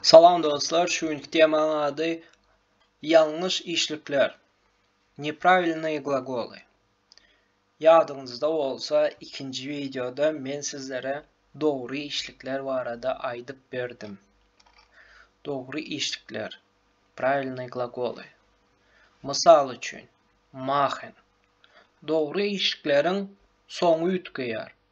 Salam dostlar, şu günki temaň ady ýalňyş işlikler, nepravilnoýe glagoly. Ýadyňyzda bolsa, ikinji wideoda men sizlere dogry işlikler barada aýdyp berdim. Dogry işlikler, pravilnoýe glagoly. Mysal üçin, machen. Dogry işlikleriň soňy üýtgeýär.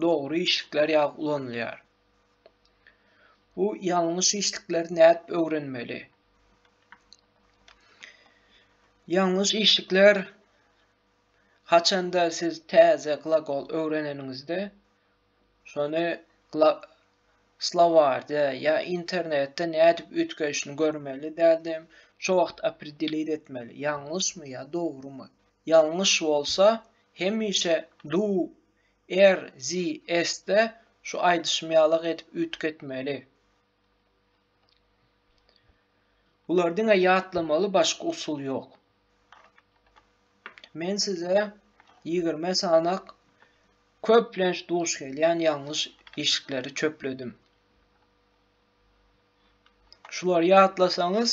dogry işlikler ýaly ulanylýar. Bu ýalňyş işlikleri nädip öwrenmeli? Ýalňyş işlikler haçanda siz täze glagol öwreneniňizde şony slowarda ýa internetde nädip üýtgedişini görmeli däldem, şo wagt opredelit etmeli, ýalňyşmy ýa dogrymy. Ýalňyş bolsa hemişe du RZS-de şu aýdyşym ýalak edip üýtgetmeli. Bular diňe ýatlamaly başga usul ýok. Men size ýigrimi sanak köplenç duş gelýän ýalňyş işikleri çöpledim. Şulary ýatlasaňyz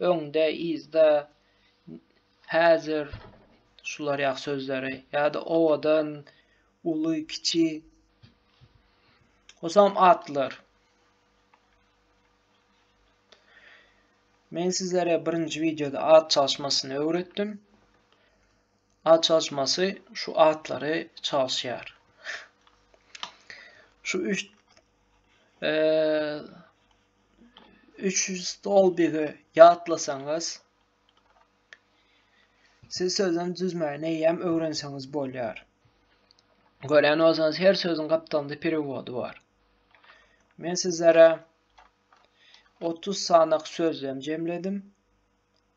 öňde, yzda, häzir, şular ýaly sözleri ýa-da owadan, uly, kiçi, hosam atlar. Men sizlere birinji wideoda at çalyşmasyny öwretdim. At çalyşmasy şu atlary çalyşýar. Şu üç 3 stolbigi ýatlasaňyz siz sözden düzmäni eýýäm öwrenseňiz bolýar. Görýän bolsaňyz her sözüň gapdalynda perewody bar. Men sizlere 30 sanak sözlem jemledim.